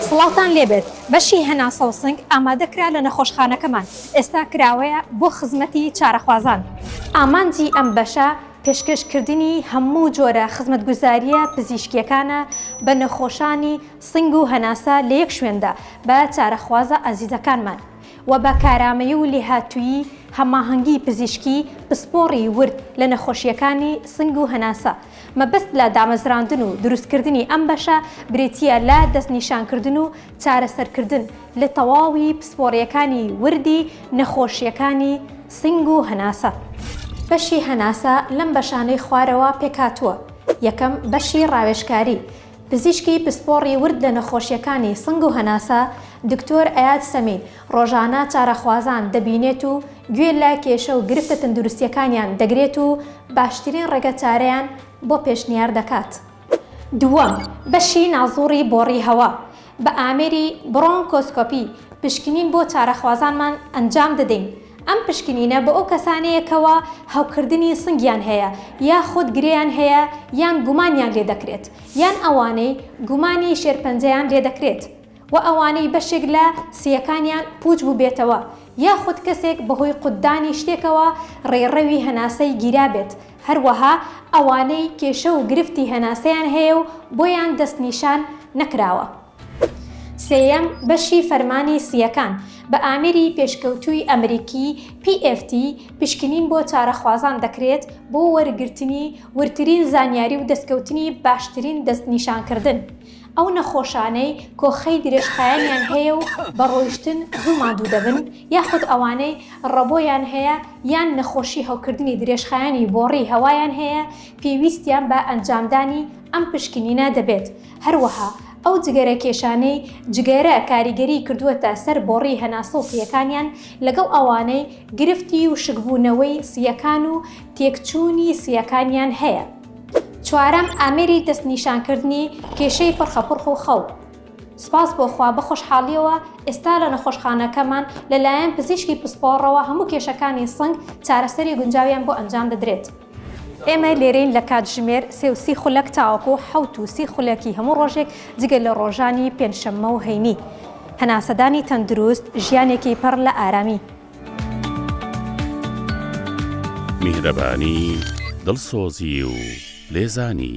سڵاوتان لێبێت بەشی هەناسە و سنگ ئامادە کرا لە نەخۆشخانەکەمان ئێستا کراوەیە بۆ خزمەتی چارەخوازان. ئامانجی ئەم بەشە پێشکەش کردنی هەموو جۆرە خزمەتگوزارییە پزیشکییەکانە بە نەخۆشانی سنگ و هەناسە لە یەک شوێندا بە چارەخوازە ئازیزەکانمان. و بە کارامەیی و لێهاتوویی هەماهەنگی پزیشکی پسپۆڕی ورد لە نەخۆشییەکانی سنگ و هەناسە. مەبەست لە دامەزراندن و دروستکردنی ئەم بەشە بریتییە لە دەستنیشانکردن و چارەسەرکردن لە تەواوی پسپۆڕییەکانی وردی نەخۆشییەکانی سنگ و هەناسە. بەشی هەناسە لەم بەشانەی خوارەوە پێکهاتووە، یەکەم، بەشی ڕاوێژکاری، پزیشکی پسپۆڕی ورد لە نەخۆشییەکانی سنگ و هەناسە، دکتۆر ئەیاد سەمید، ڕۆژانە چارەخوازان دەبینێت و گوێ لە کێشە و گرفتە تەندروستییەکانیان دەگرێت و باشترین ڕێگە چارەیان بۆ پێشنیار دەکات. دووەم، بەشی نازووڕی بۆڕی هەوا، بە ئامێری، برۆنکۆسکۆپی، پشکنین بۆ چارەخوازانمان ئەنجام دەدەین. ئەم پشکنینە بۆ ئەو کەسانەیە کەوا هەوکردنی سنگیان هەیە یاخود گرێیان هەیە یان گومانیان لێدەکرێت یان ئەوانەی گومانی شێرپەنجەیان لێدەکرێت و ئەوانەی بەشێک لە سییەکانیان پووچ بووبێتەوە یاخود کەسێک بەهۆی قوتدانی شتێکەوە ڕێڕەوی هەناسەی گیرابێت هەروەها ئەوانەی کێشە و گرفتی هەناسەیان هەیە و بۆیان دەستنیشان نەکراوە. سێیەم بەشی فەرمانی سییەکان بە ئامێری پێشکەوتووی ئەمریکی، PFT، پشکنین بۆ چارەخوازان دەکرێت بۆ وەرگرتنی وردترین زانیاری و دەستکەوتنی باشترین دەستنیشانکردن ئەو نەخۆشانەی کۆخەی درێژخایەنیان هەیە و بە ڕۆیشتن زوو ماندوو دەبن یاخود ئەوانەی ڕەبۆیان هەیە یان نەخۆشی هەوکردنی درێژخایەنی بۆڕی هەوایان هەیە پێویستیان بە ئەنجامدانی ئەم پشکنینە دەبێت. هەروەها ئەو جگەرە کێشانەی جگەرە کاریگەری کردووەتە سەر بۆڕی هەناسە و سییەکانیان لەگەڵ ئەوانەی گرفتی وشکبوونەوەی سییەکان و تێکچوونی سییەکانیان هەیە. چوارەم، ئامێری دەستنیشانکردنی کێشەی پڕخەپڕخ و خەو. سوپاس بۆ خوا بەخۆشحاڵییەوە ئێستا لە نەخۆشخانەکەمان لەلایەن پزیشکی پسپۆڕەوە هەموو کێشەکانی سنگ چارەسەری گونجاویان بۆ ئەنجام دەدرێت. ئێمە لێرەین لە کاتژمێر سێ و سی خولەک تاوەکو حەوت و سی خولەکی هەموو ڕۆژێک جگە لە ڕۆژانی پێنجشەممە و هەینی. هەناسەدانی تەندروست، ژیانێکی پڕ لە ئارامی. میهرەبانی، دڵسۆزی و لێزانی.